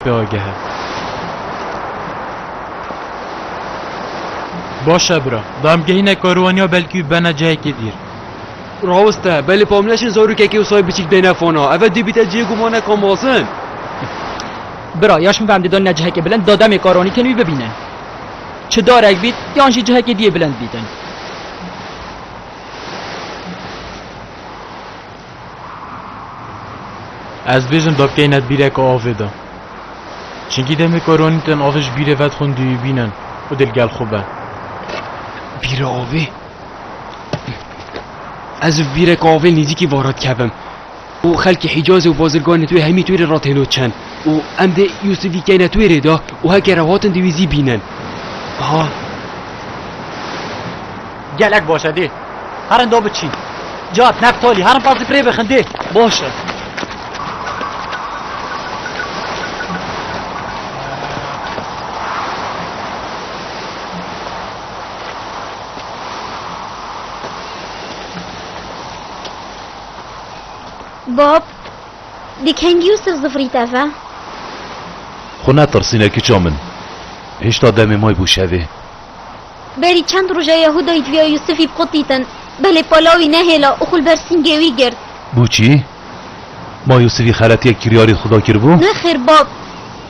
Dagihê. Baş e bira. Damgehîne karwaniya belkî wî bena cihekê dîr. Rawest e. Belê Pamleşên zarokekê Usayê Biçîk bêne fona. Ev e dê bîte cihê gumane Kamazin. Bira, ya şim ve em dê danine cihekê bilind da demê karwanî tên wî bibînin. Çi darek bît yan jî cihekê diyê bilind bîtin. Ez dibêjim dabkeyî ne di bîreke avê de. Çinkî demê ku ronî tên avê ji bîrê ve dixwin duyîbînin û dê li gel xwe be. Bîra avê? Ez ji bîreke avê nêzîkî va re dikevim û xelkê Hîcazê û bazirganê twê hemî twê rê re têno çin û em dê Yûsifî keyne twê rê de û her ke re hatin dê wî zî bînin. Ha! Gelek baş e dê herin da biçîn. Cad, Neftalî herin qasî pirê bixin dê baş e. Bab, di kengî û sif zifrî teve. Xwe netirsîne kiça min. Hêşta demê may bû şevê. Berî çend roj e Yehûdayî di vîya Yûsifî bixwe tîtin. Belê pala wî nehêla û xwe li ber sîngê wî girt. Bûçî? Ma Yûsifî xeletiyek kiryarî Xuda kiribû? Nexêr bab,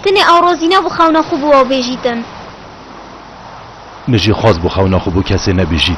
tenê ew razî nebû xewna xwe bi we bêjîtin. Min jî xwest bû xewna xwe bo kesê nebêjît.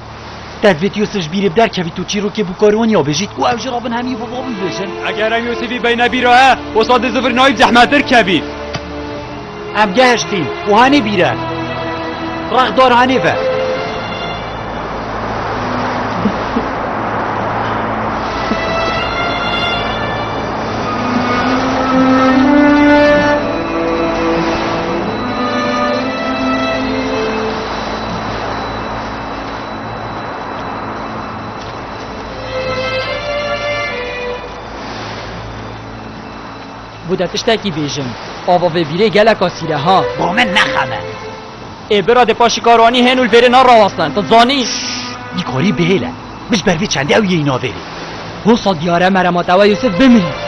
Tedbit Yusuf ji bîrê bi derkevî tu çîrokê bû karî wan ya bêjî ku ew jî rabin hemî bi van bibêjin. Eger ew Yusufî beyne bîra he wisa di zivir nayî zehmettir kevî. Em gehiştîn û hanê bîre. Rex dar hanê ve. Bû te tiştekî bêjim. Ava vê bîrê gelek asîr e ha. Bo min nexeme. Ê bira dê paşî karwanî hên û li vêrê narawestin. Ti zanî. Dîkorî bihêle. Min ji ber vê çendê ew yêyî navêrê. Hosa diyar e merema te we Yûsif bimirî.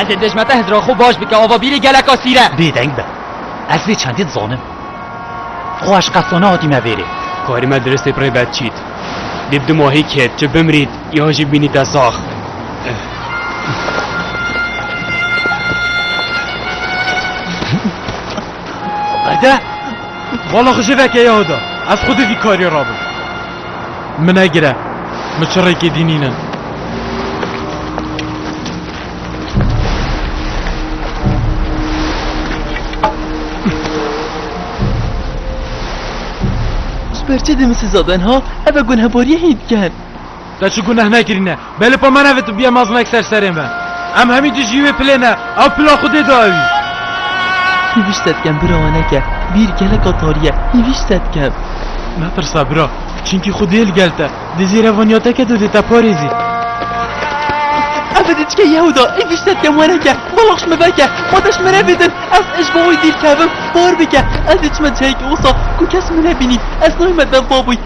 Ez ê dejme te hizra xwe baş bike ava bîrê geleka sîre. Bêdeng be. Ez vê çendê dizanim. Xwe ez qet sona hatî me vêrê. Karî me diristê pirê be çît. Dê bi dima hî kêt çi bimrît yan jî bînî te sax. Berde! Vala xwe ji veke ya da. Ez xwe di vî karî rabim. Min negire. Min çirrêkê dînînin. Ji ber çi dê min siza ben ha? Ev e gunehbariyê hîn dikin. Te çi guneh nekirîne? Be li pemana ve tu bîya mezin ek ser serê me. Em hemî tu jî wê pilê ne, ew pila xwedê da ew î. Hîvîş setkem bira we neke, bîr geleka tarî ye, hîvîş setkem. Netirse bira, çinkî xwedê yê li gel te, dê zêre van ya te ke tu dê te parêzî. Ev diçike Yehuda, hîvîş setkem we neke, belax me veke, xwe te ji min re bidin, ez ji bo wî dîr kevim, par bike, ez ê çime cihekê wisa ku kes min nebînî, ez nayme dev baboy,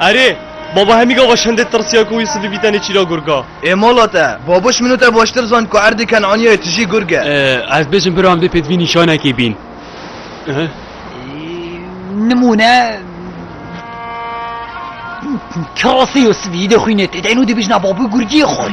Erê! Baba Hemîga weşandê tirsiya ku wî sibî bî tenê çîra gurg a. Ê mala te! Babuş min û te baştir zand ku erdê Kenaniyayê tijî gurg e. Ez dibêjim biro em dê pêdivî nîşanekê bîn. Nimûne, Kirasê ya sibî dê xwînê tê de, êno dê bêjin a babû gurgiyê xwe.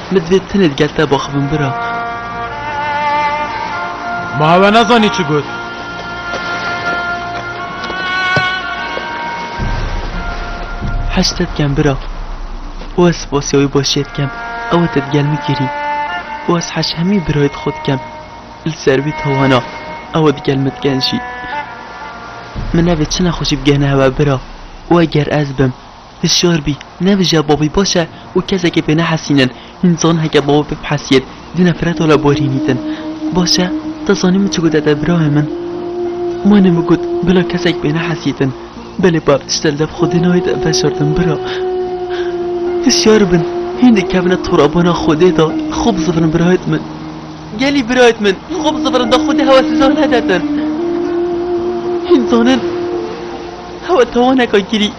Min divê tenê di gel te bixivim bira. Ma hewe nezanî çi got. Heşt te dikem bira. û ez spasiya wî başiyê dikem. Ew e te di gel min kirî. û ez heş hemî birayê di xwe dikem. Li ser vî tawana ew e di gel min dikenjî. Min nevê çi nexweşî bigihne hewe bira. û eger ez bim. Hişyar bî, nebije bavê baş e û kesekê pê nehesînin. Hîn zan heke bavê pê bihesiyên, di nefreta li bo rînî din. Baş e, te zanî min çi gote te birayê min? Mane min got, bila kesek pê nehesî din. Belê bav tişte li dev Xwedê nayê te veşartin bira. Hişyar bin, hîn dikevine torabana Xwedê de, xwe bizivirin birayt min. Gelî birayt min, xwe bizivirin da Xwedê hewa siza nedetin. Hîn zanin hewa tawaneka girî.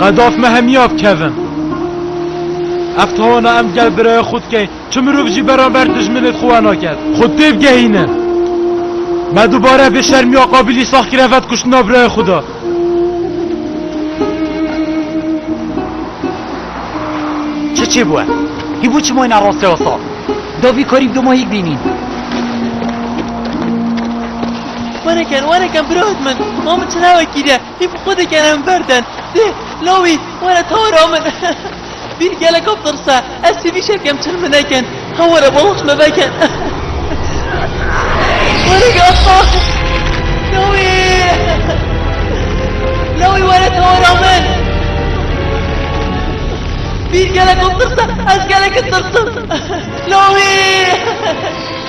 Qedaf me hemiya bikevin. Ev tawana em gel biraya xwe dike, çi mirov jî beramber dijminê di xwe we nake. Xwe têbigehînin. Me dubare vê şermiya qabilî sax kire vet kuştina biraya xwe de. Çi çê bû e? Hî bû çi mayna rastê wasa? Da vî karî bi doma hîk bînîn. Were ken, were ken bira hit min. Ma min çi navekî de. Hîm xwe dikerim ber te. Dê, lawî, were tara min. Vîr geleka pirs e. Ez sivî şekem çil min nekin. He were balans me veke. Were gapa. Lawî. Lawî were tara min. Vîr geleka pirs e. Ez geleke tirsim. Lawî.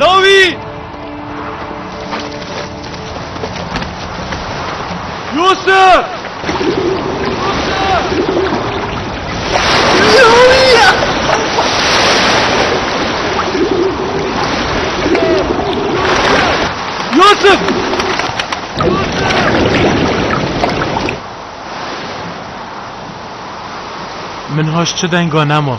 Lawî! Yusuf! Yusuf! Min haş çi denga nema.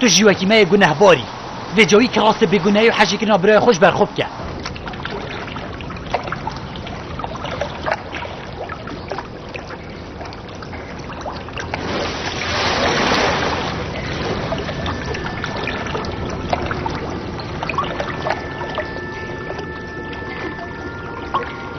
Tu jî wekî me yê gunehbar î. Vê cawî kî rastê bêgunehî û hejîkirina birayê xwe ji ber xwe bike.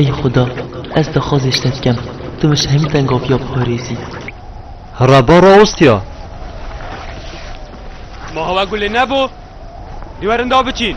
Ey Xuda, ez dixwazê ji te dikem, tu min ji hemî tengaviya biparêzî. Rebba rawestiya. Ma hewa gulê nebû, dîwarên da biçîn.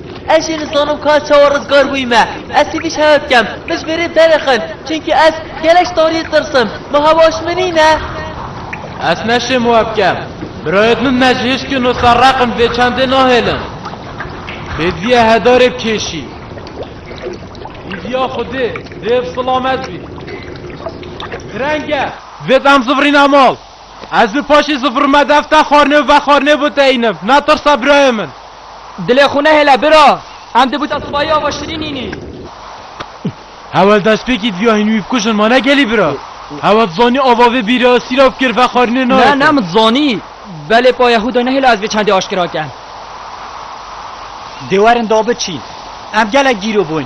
Ez jî nizanim ka çawa rizgar bûyîme. Ez hêvî şeya dikem, min ji bêrê derixin, çimkî ez gelek ji tariyê tirisim. Ma hewa ji min nîn e? Ez naşêm wa bikem. Birayê min me ji hişkin û serreqin vê çandê nahêlin. Hêdîya hedarê bikêşî. Hêdîya xwedê dê bi silamet bî. Gireng e. Divê bi em zivirîne mal. Ez bi paşê zifir me dev te xwarinê û vexwarinê bo te înim. Netirse birayê min. Dilê xwe nehêle bira. Em di buta sibayî ava şirîn înî. Hewel destpêkî diviya hîn wî bikujin ma ne gelî bira. Hewel dizanî ava vê bîrê esîra fikir vexwarinê nayê te. Ne, ne min dizanî. Belê pa Yehûda nehêle ez vê çendê aşkera kem. Dê werin dabiçîn. Em gelek gîro bûn.